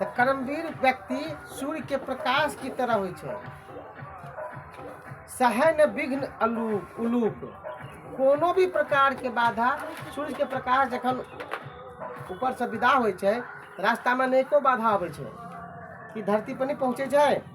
तऽ कर्मवीर व्यक्ति सूर्य के प्रकाश की तरह होइ छै सहय न विघ्न अलूप उलूप कोनो भी प्रकार के बाधा सूर्य के प्रकाश जखन ऊपर से विदा होइ छै रास्ता में अनेको बाधा अबै छै ई धरती पर नहि पहुँचे छै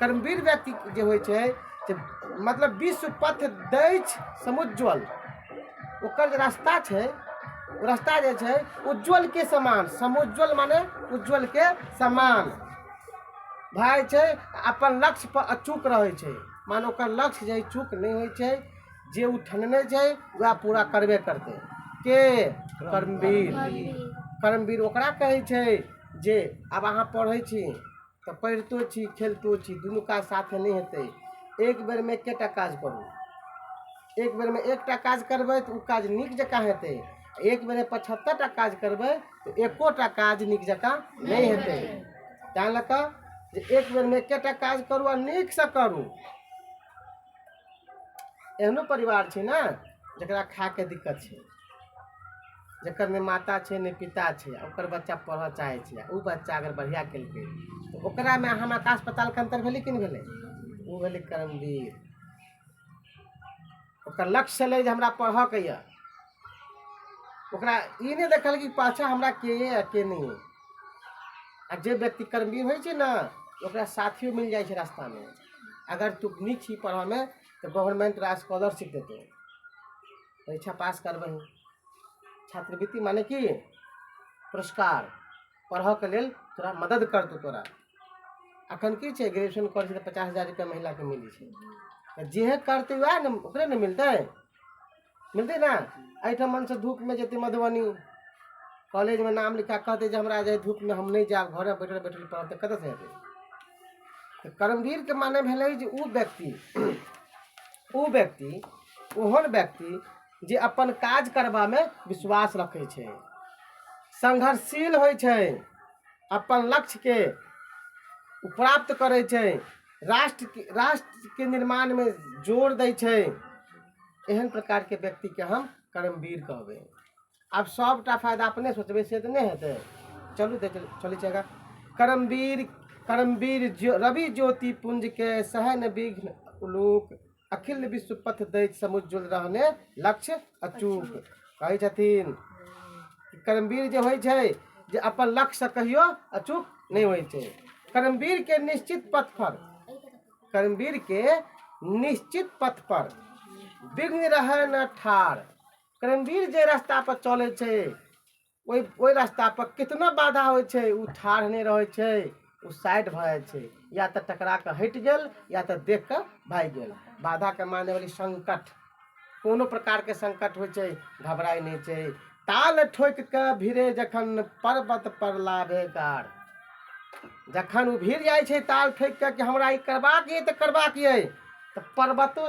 कर्मवीर व्यक्ति जे होइ छै जे मतलब विश्व पथ दैछ समुज्ज्वल ओकर जे रास्ता छै ओ रास्ता जे छै उज्ज्वलके समान समुज्ज्वल माने उज्ज्वलके समान भाय छै अपन लक्ष्य पर अचूक रहै छै माने ओकर लक्ष्य जे चूक नहि होइ छै जे ओ ठनने छै वएह पूरा करबे करतै के कर्मवीर कर्मवीर ओकरा कहै छै जे आब अहाँ पढ़ै छी तऽ पढ़ितो छी खेलतो छी दुनू काज साथे नहि हेतै एक बेरमे एकेटा काज करू एक बेरमे एकटा काज करबै तऽ ओ काज नीक जकाँ हेतै एक बेरमे पचहत्तर टा काज करबै तऽ एकोटा काज नीक जकाँ नहि हेतै तैँ लऽ कऽ जे एक बेरमे एकेटा काज करू आ नीकसँ करू एहनो परिवार छै ने जकरा खायके दिक्कत छै जकर नहि माता छै नहि पिता छै ओकर बच्चा पढ़ऽ चाहै छै आ ओ बच्चा अगर बढ़िया केलकै तऽ ओकरामे आ हमरा आकाश पतालके अन्तर भेलै कि नहि भेलै ओ भेलै कर्मवीर ओकर लक्ष्य छलै जे हमरा पढ़ऽके यऽ ओकरा ई नहि देखल कि पाछा हमरा के यऽ आ के नहि यऽ आ जे व्यक्ति कर्मवीर होइ छै ने ओकरा साथियो मिल जाइ छै रास्तामे अगर तू नीक छी पढ़ऽमे तऽ गवर्नमेंट तोरा स्कॉलरशिप देतौ परीक्षा पास करबै छात्रवृत्ति माने कि पुरस्कार पढ़ऽके लेल तोरा मदद करतौ तोरा अखन की छै ग्रेजुएशन करै छै तऽ पचास हजार रुपया महिला के मिलै छै तऽ जेहे करतै वएह ने ओकरे ने मिलतै मिलतै ने एहिठाम से धूप में जेतै मधुबनी कॉलेज में नाम लिखा कहते जे हमरा जे धूप में हम नहीं जायब घर में बैठल बैठल पढ़ब तऽ कतऽसँ हेतै तऽ कर्मवीरके माने भेलै जे ओ व्यक्ति ओ व्यक्ति ओहन व्यक्ति जे अपन काज करबामे विश्वास रखै छै संघर्षशील होइ छै अपन लक्ष्यके प्राप्त करै छै राष्ट्रके राष्ट्रके निर्माणमे जोर दै छै एहन प्रकारके व्यक्तिके हम कर्मवीर कहबै आब सभटा फायदा अपने सोचबै से तऽ नहि हेतै चलू देख चलै छै आगाँ करमवीर करमवीर ज्यो रवि ज्योति पुंजके सहन विघ्न उलूक अखिल विश्व पथ दैत समुज्ज्वल रहने लक्ष्य अचूक कहै छथिन कर्मवीर जे होइ छै जे अपन लक्ष्य कहियो अचूक नहि होइ छै कर्मवीर के निश्चित पथ पर कर्मवीर के निश्चित पथ पर विघ्न रहै न ठार कर्मवीर जे रास्ता पर चले छै ओहि ओहि रास्ता पर कितना बाधा होइ छै ओ ठाढ़ नहि रहै छै ओ साइड भऽ जाइ छै या तऽ टकरा कऽ हटि गेल या तऽ देख कऽ भागि गेल बाधा के माने वाली संकट कोनो प्रकार के संकट होइ छै घबराय नहि छै ताल ठोक कऽ भिड़े जखन पर्वत पर लाभे गार जखन ओ भिड़ जाइ छै ताल ठोक कऽ कि हमरा ई करबाक यऽ तऽ करबाक यऽ तऽ पर्वतो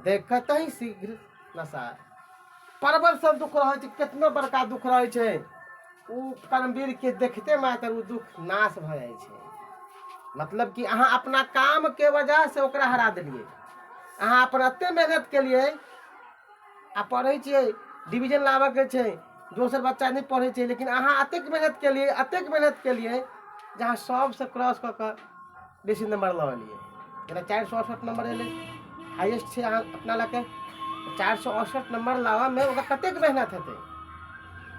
देखतहि शीघ्र नशा परवर सब दुख रहै छै कितना बड़का दुख रहै छै ओ परमवीरके देखते मात्र ओ दुख नाश भऽ जाइ छै मतलब कि अहाँ अपना कामके वजहसँ ओकरा हरा देलियै अहाँ अपन एतेक मेहनत केलियै आ पढ़ै छियै डिवीजन लाबयके छै दोसर बच्चा नहि पढ़ै छै लेकिन अहाँ एतेक मेहनत केलियै एतेक मेहनत केलियै जे अहाँ सभसँ क्रॉस कऽ कऽ बेसी नंबर लऽ एलियै जेना चारि सए अड़सठ नंबर एलै हाइएस्ट छै अहाँ अपना लऽ कऽ चारि सए अड़सठ नंबर लाबऽमे ओकरा कतेक मेहनत हेतै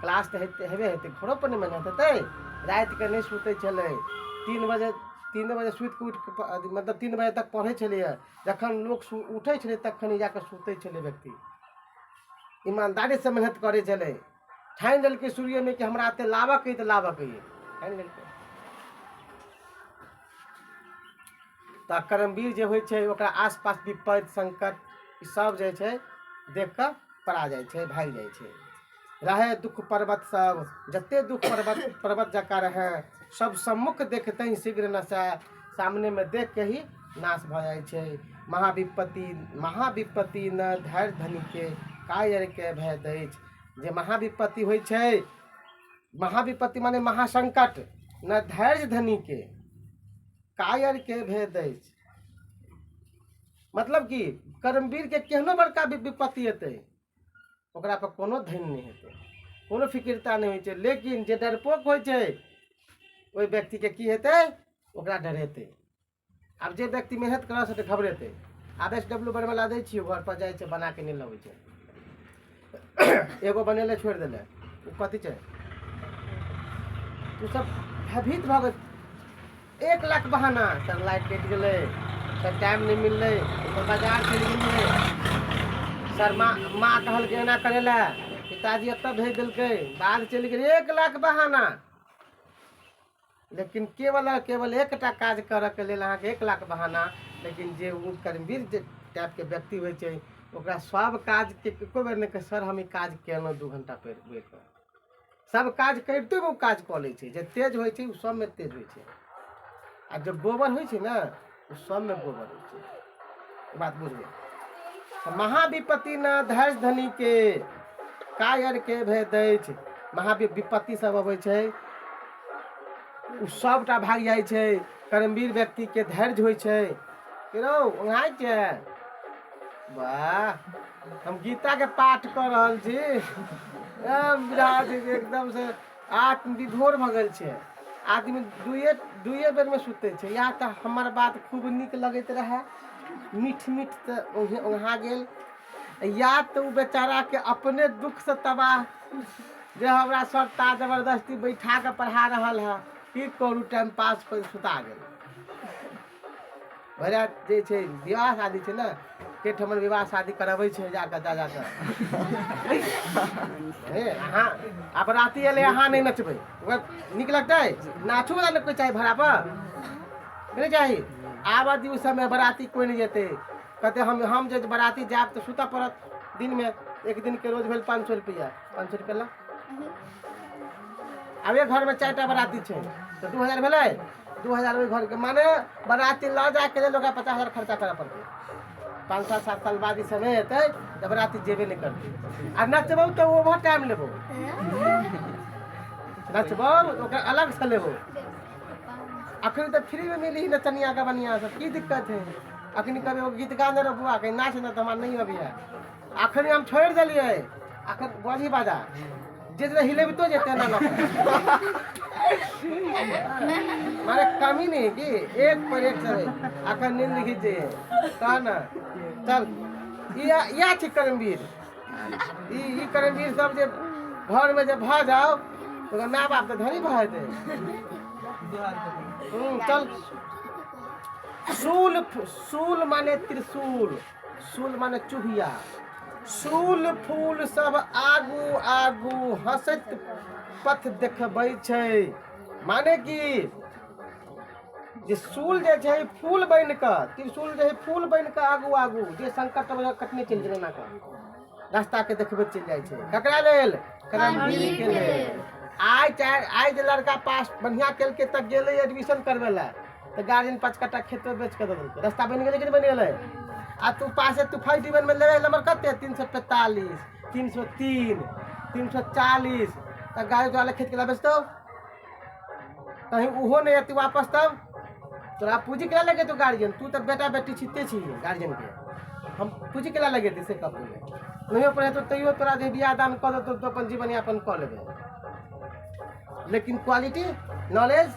क्लास तऽ हेतै हेबे हेतै घरोपर ने मेहनत हेतै रातिके नहि सुतै छलै तीन बजे तीने बजे सुतिके उठिके प- अथी मतलब तीन बजे तक पढ़ै छलैए जखन लोक सु उठै छलै तखन ई जाकऽ सुतै छलै व्यक्ति ईमानदारीसँ मेहनत करै छलै ठानि लेलकै सूर्यमे कि हमरा एते लाबक अइ तऽ लाबक अइ ठानि लेलकै तऽ कर्मवीर जे होइ छै ओकरा आसपास विपद संकट ई सब जे छै देख कऽ पड़ा जाइ छै भागि जाइ छै रहै दुःख पर्वत सब जते दुःख पर्वत पर्वत जकाँ रहै सब सम्मुख देखते ही शीघ्र नशा सामनेमे देख के ही नाश भऽ जाइ छै महाविपत्ति महाविपत्ति न धैर्य धनिके कायर के भय दैछ जे महाविपत्ति होइ छै महाविपत्ति माने महासंकट न धैर्य धनी के कायर के भेद अछि मतलब कि कर्मवीर के केहनो बड़का वि- विपत्ति एतै ओकरा पर कोनो धैन नहि हेतै कोनो फिकिरता नहि होइ छै लेकिन जे डरपोक होइ छै ओहि व्यक्ति के की हेतै ओकरा डरेतै आब जे व्यक्ति मेहनत करऽ से तऽ घबरेतै आब एस डब्ल्यू बनबै लए दै छियै घर पर जाइ छै बना के नहि लबै छै एगो बनेले छोड़ि देले ओ कथी छै ओ सब भयभीत भऽ गेल एक लाख बहाना सर लाइट कटि गेलै सर टाइम नहि मिललै सर बाजार चलि गेलियै सर माँ माँ कहलकै एना करै लए पिताजी एतऽ भेज देलकै बाहर चलि गेलै एक लाख बहाना लेकिन केवल आ केवल एकटा काज करऽके लेल अहाँके एक लाख बहाना लेकिन जे ओ कर्मवीर जे टाइपके व्यक्ति होइ छै ओकरा सब काजके एको बेर नहि कहे सर हम ई काज केलहुँ दू घंटा पढ़ि पढ़ि कऽ सब काज करिते ओ काज कऽ लै छै जे तेज होइ छै ओ सबमे तेज होइ छै आ जे गोबर होइ छै ने सबमे गोबर होइ छै ई बात बुझबै तऽ महाविपत्ति न धैर्य धनीके कायरके भेद अछि महावि विपत्ति सब अबै छै ओ सबटा भागि जाइ छै कर्मवीर व्यक्तिके धैर्य होइ छै कि रौ ओंघाइ छै वाह हम गीताके पाठ कऽ रहल छी एकदम से आठ विभोर भऽ गेल छै आदमी दुइए दुइए बेरमे सुतै छै इएह तऽ हमर बात खूब नीक लगैत रहए मीठ मीठ तऽ ओहे ओहा गेल या तऽ ओ बेचाराके अपने दुखसँ तबाह जे हमरा सर ता जबरदस्ती बैठा कऽ पढ़ा रहल हए की करू टाइम पास कऽ सुता गेल भैया जे छै विवाह शादी छै ने के ठमन विवाह शादी करबै छै जा कऽ जा जा कऽ हे, अहाँ आब राति एलै अहाँ नहि नचबै ओकरा नीक लगतै नाचो वाला ने कोइ चाही भाड़ा पर नहि चाही आबऽ दियौ समय बराती कोइ नहि जेतै कहते हम हम जे बराती जायब तऽ सुतऽ पड़त दिनमे एक दिनके रोज भेल पाँच सए रुपैआ पाँच सए रुपैआ लऽ आब एक घरमे चारि टा बराती छै तऽ दू हजार भेलै दू हजार ओहि घरके माने बराती लऽ जायके लेल ओकरा पचास हजार खर्चा करय पड़तै पाँच साल सात साल बाद ई समय एतै तऽ बराती जेबे नहि करतै आ नचबौ तऽ ओहो टाइम लेबौ नचबौ तऽ ओकर अलग से लेबौ अखन तऽ फ्रीमे मिली नचनिया गबनिया सब की दिक्कत है अखन कभी एगो गीत गा दे रहो बुआ कहीं नाच ने तऽ हमरा नहीं अबैया अखन हम छोड़ि देलियै अखन बड़ी बाजा जे जे हिलेबितो जेतै ना ना मारे कमी नहीं कि एक पर एक चले अखन नींद लिखी जे कह ना चल या या छी करमवीर ई ई करमवीर सब जे घर में जे भा जाओ तो माय बाप के धनी भा जेतै हम्म, चल शूल शूल माने त्रिशूल शूल माने चुहिया शूल फूल सब आगू आगू हंसैत पथ देखबै छै माने कि जे शूल जे छै फूल बनि कऽ त्रिशूल जे छै फूल बनि कऽ आगू आगू जे संकट अबै छै, कटने चलि गेल एना कऽ रास्ताके देखबैत चलि जाइ छै ककरा लेल कर्मवीरके लेल आइ चाहे आइ जे लड़का पास बढ़िआँ केलकै तऽ गेलै एडमिशन करबै लए तऽ गार्जियन पाँच कट्ठा खेतो बेच कऽ दऽ देलकै रस्ता बनि गेलै कि नहि बनि गेलै आ तू पासे तू फर्स्ट डिवीजनमे लेबे नंबर कते तीन सए पैंतालीस तीन सए तीन तीन सए चालीस तऽ गाड़ी तोरा लए खेत केला बेचतौ कहीं ओहो नहि अति वापस तब तोरा पूँजी केला लगेतौ गार्जियन तू तऽ बेटा बेटी छिते छी गार्जियनके हम पूँजी केला लगेतै से कह पहिले नहियो पढ़ेतौ तैयो तोरा जे बियाह दान कऽ देतौ तऽ अपन जीवन यापन कऽ लेबै लेकिन क्वालिटी नॉलेज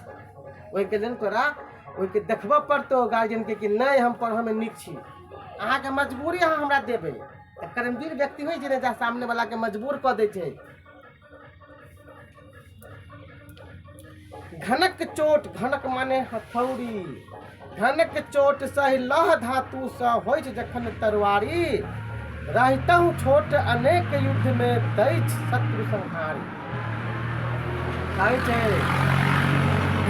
ओहिके लेल तोरा ओहिके देखबऽ पड़तौ गार्जियनके कि नहि हम पढ़ऽमे नीक छी अहाँके मजबूरी अहाँ हमरा देबै तऽ कर्मवीर व्यक्ति होइ छै ने जा सामने वालाके मजबूर कऽ दै छै घनक चोट घनक माने हथौड़ी घनक चोट सहि लह धातुसँ होइ छै जखन तरवारी रहितहु छोट अनेक युद्धमे दैछ शत्रु संहारी कहै छै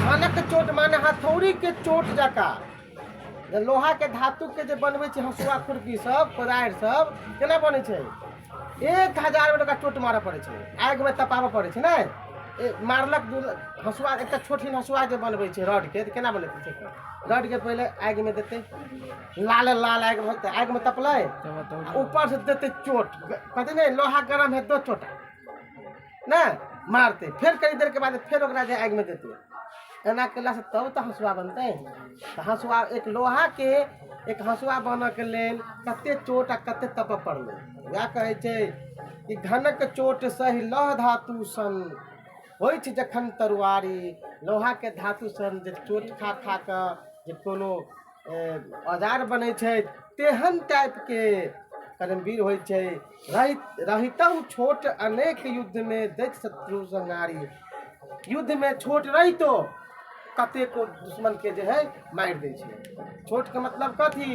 धानक चोट माने हथौड़ी के चोट जका जे लोहा के धातु के जे बनबै छै हसुआ खुरपी सब कोदारि सब केना बनै छै एक हजार बेर ओकरा चोट मारऽ पड़ै छै आगि मे तपाबऽ पड़ै छै नहि ए, मारलक दू हसुआ एकटा छोटहिन हसुआ जे बनबै छै रॉड के तऽ केना बनबै छै रॉड के पहिले आगि मे देतै लाल लाल आगि मे आगि मे तपलै आ ऊपर से देतै चोट कहतै नहि लोहा गरम है दो चोट ने मारते फेर कई देर के बाद फेर ओकरा जे आगि में देते एना कला से तब तो हंसुआ बनते तो हंसुआ एक लोहा के एक हंसुआ बन के लेल कते चोट आ कते तप पड़ले वह कहे छे कि घनक चोट सही लह धातु सन हो जखन तरुआरी लोहा के धातु सन जे चोट खा खा के जे कोनो औजार बनै छै तेहन टाइपके कर्मवीर होइ छै रहित रहितहु छोट अनेक युद्धमे दैत शत्रु संहारी युद्धमे छोट रहितो कतेको दुश्मनके जे हइ मारि दै छै छोटके मतलब कथी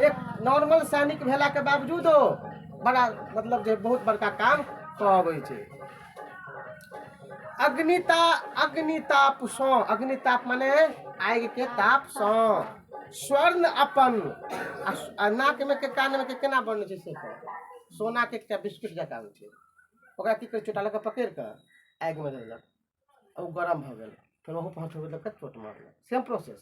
एक नॉर्मल सैनिक भेलाके बावजूदो बड़ा मतलब जे बहुत बड़का काम कऽ अबै छै अग्निता अग्नितापसँ अग्निताप मने आगिके तापसँ स्वर्ण अपन आ नाकमे के कानमे के केना बनै छै से सोनाके एकटा बिस्कुट जकाँ होइ छै ओकरा की करै चोटा लऽ कऽ पकड़ि कऽ आगिमे देलक ओ गरम भऽ गेल फेर ओहो पहुँचबेलक चोट मारलक सेम प्रोसेस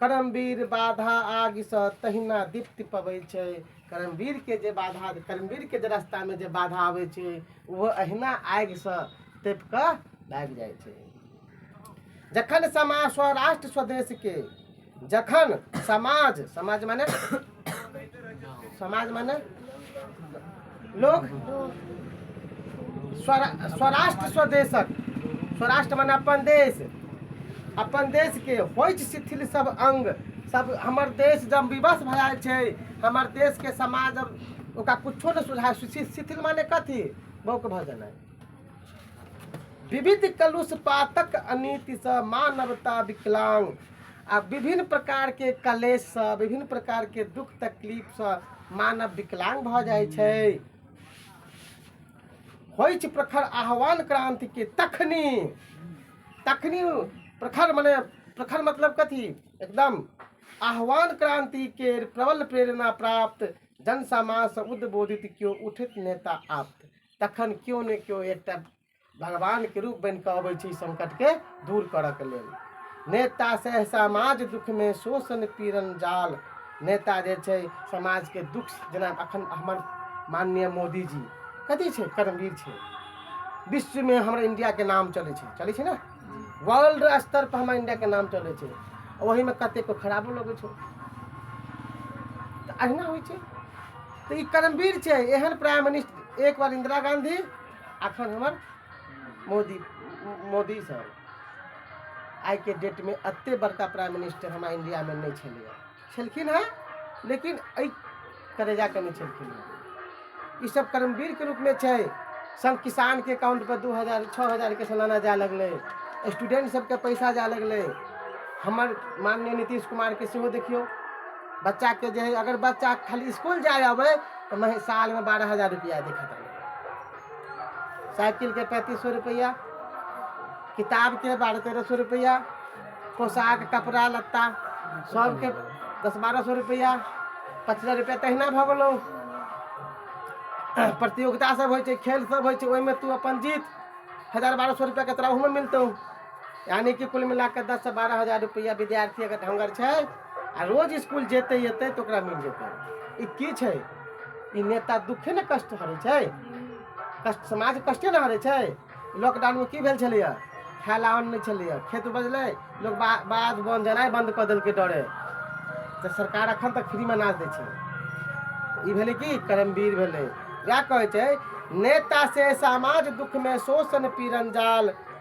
कर्मवीर बाधा आगिसँ तहिना दीप्ति पबै छै कर्मवीरके जे बाधा कर्मवीरके जे रस्तामे जे बाधा अबै छै ओहो अहिना आगिसँ तपि कऽ भागि जाइ छै जखन समाज स्वराष्ट्र स्वदेशके जखन समाज समाज मने समाज माने लोग स्वरा- स्वराष्ट्र स्वदेशक स्वराष्ट्र माने अपन देश अपन देश के होइत शिथिल सब अंग सब हमर देश जब विवश भए छै हमर देश के समाज जब ओकरा कुछो नहि सुझाय शिथिल शिथिल माने कथी बौक भऽ जेनाइ विविध कलुष पातक अनितिसँ मानवता विकलांग आ विभिन्न प्रकारके कलेशसँ विभिन्न प्रकारके दुख तकलीफसँ मानव विकलांग भऽ जाइ छै होइ छै प्रखर आह्वान क्रान्तिके तखनी तखनी प्रखर मने प्रखर मतलब कथी एकदम आह्वान क्रान्तिके प्रबल प्रेरणा प्राप्त जनसमाजसँ उद्बोधित केओ उठित नेता आप्त तखन केओ ने केओ एकटा भगवानके रूप बनि कऽ अबै छै संकटके दूर करऽके लेल नेता से समाज दुखमे शोषण पीड़न जाल नेता जे छै समाजके दुख जेना अखन हमर माननीय मोदीजी कथी छै कर्मवीर छै विश्वमे हमर इन्डियाके नाम चलै छै चलै छै ने वर्ल्ड स्तर पर हमर इन्डियाके नाम चलै छै ओहिमे कतेकके खराबो लगै छै तऽ अहिना होइ छै तो ये कर्मवीर छे एहन प्राइम मिनिस्टर एक बार इंदिरा गांधी अखन हमर मोदी मोदी सर आइ के डेट में अत्ते बड़का प्राइम मिनिस्टर हमारा इंडिया में नहीं छे छलखिन है लेकिन अ करेजा के नहीं छलखिन है ये सब कर्मवीर के रूप में छे सब किसान के अकाउंट पर दू हजार छः हजार के सालाना जाए लगले स्टूडेंट सबके पैसा जाए लगले हमर माननीय नीतीश कुमार के सेहो देखियो बच्चाके जे है अगर बच्चा खाली इसकुल जाय अबै तऽ मही सालमे बारह हजार रुपैआ देखैत रहै साइकिलके पैंतीस सए रुपैआ किताबके बारह तेरह सए रुपैआ पोशाक कपड़ा लत्ता सभके दस बारह सए रुपैआ पच्चीस हजार रुपैआ तहिना भऽ गेलौ प्रतियोगितासभ होइ छै खेलसभ होइ छै ओहिमे तू अपन जीत हजार बारह सए रुपैआके तोरा ओहूमे मिलतौ यानी कि कुल मिला कऽ दससँ बारह हजार रुपैआ विद्यार्थी अगर ढङ्गर छै आ रोज इसकुल जेतै एतै तऽ ओकरा मिल जेतै ई की छै ई नेता दुःखे ने कष्ट हरै छै कष्ट समाज कष्टे ने हरै छै लॉकडाउनमे की भेल छलैए खाय लए अन्न नहि छलैए खेत उपजलै लोक बा बाध बन जेनाइ बन्द कऽ देलकै डरे तऽ सरकार एखन तक फ्रीमे अनाज दै छै ई भेलै कि कर्मवीर भेलै वएह कहै छै नेता से समाज दुःखमे शोषण पीड़न जाल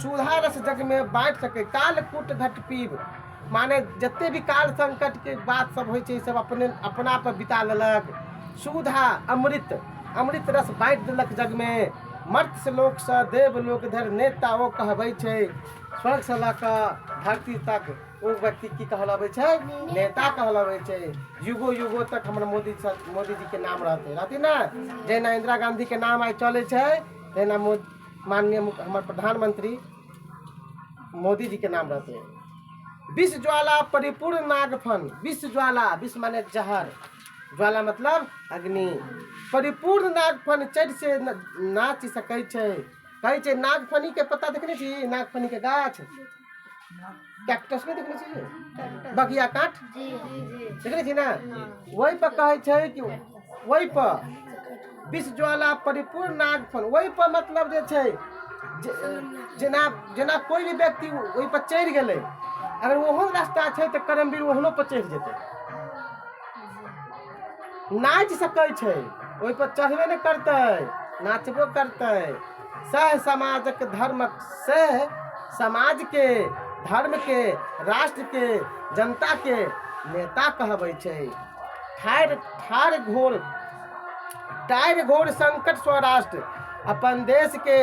सुधा रस जग में बाँटि सकै काल कूट घट पीब माने जते भी काल संकट के बात सब होइ छै सब अपने अपना पर बिता लेलक सुधा अमृत अमृत रस बाँटि देलक जग में मर्त्य लोक से देव लोक धरि नेता ओ कहबै छै स्वर्ग से लऽ कऽ धरती तक ओ व्यक्ति की कहलाबै छै नेता कहलाबै छै युगो युगो तक हमर मोदी स- मोदी जी के नाम रहतै रहतै ने जहिना इंदिरा गांधी के नाम आइ चलै छै तहिना मोदी माननीय हमर प्रधानमंत्री मोदी जी के नाम रहते विश्व ज्वाला परिपूर्ण नागफन विश्व ज्वाला विश्व माने जहर ज्वाला मतलब अग्नि परिपूर्ण नागफन चढ़ि से नाच सकै छै कहै छै नागफनी के पत्ता देखने छी नागफनी के गाछ कैक्टस के देखले छी बगिया काट देखले छी ना वही पर कहे छै कि वही पर विष ज्वाला परिपूर्ण नागफल वही पर मतलब जे छै जे- जेना जेना कोई भी व्यक्ति ओहि पर चढ़ि गेलै अगर ओहो रास्ता छै तऽ करमवीर ओहनो पर चढ़ि जेतै नाचि सकै छै ओहि पर चढ़बे ने करतै नाचबो करतै सैह समाजक धर्मक सैह समाज के धर्म के राष्ट्र के जनता के नेता कहबै छै ठाढ़ ठाढ़ घोर टायर घोर संकट सँ राष्ट्र अपन देश के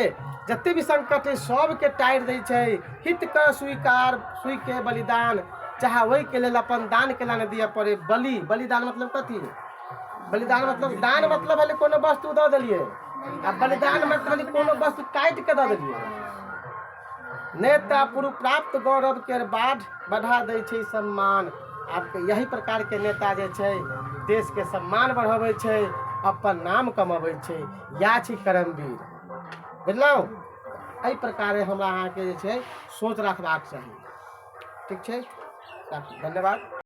जते भी संकट है सबके टायर दै छै हित के स्वीकार सुई के बलिदान चाहे ओहि के लेल अपन दान के लाने दिअ पड़े बलि बलिदान मतलब कथी बलिदान मतलब दान मतलब भेलै कोनो वस्तु दऽ देलियै आ बलिदान मतलब भेलै कोनो वस्तु काटि कऽ दऽ देलियै नेता पुरु प्राप्त गौरव के बाढ़ बढ़ा दै छै सम्मान आब के यही प्रकार के नेता जे छै देश के सम्मान बढ़बै छै अपन नाम कमबै छै इएह छै कर्मवीर बुझलहुँ एहि प्रकारे हमरा अहाँके जे छै सोच रखबाक चाही ठीक छै राखू धन्यवाद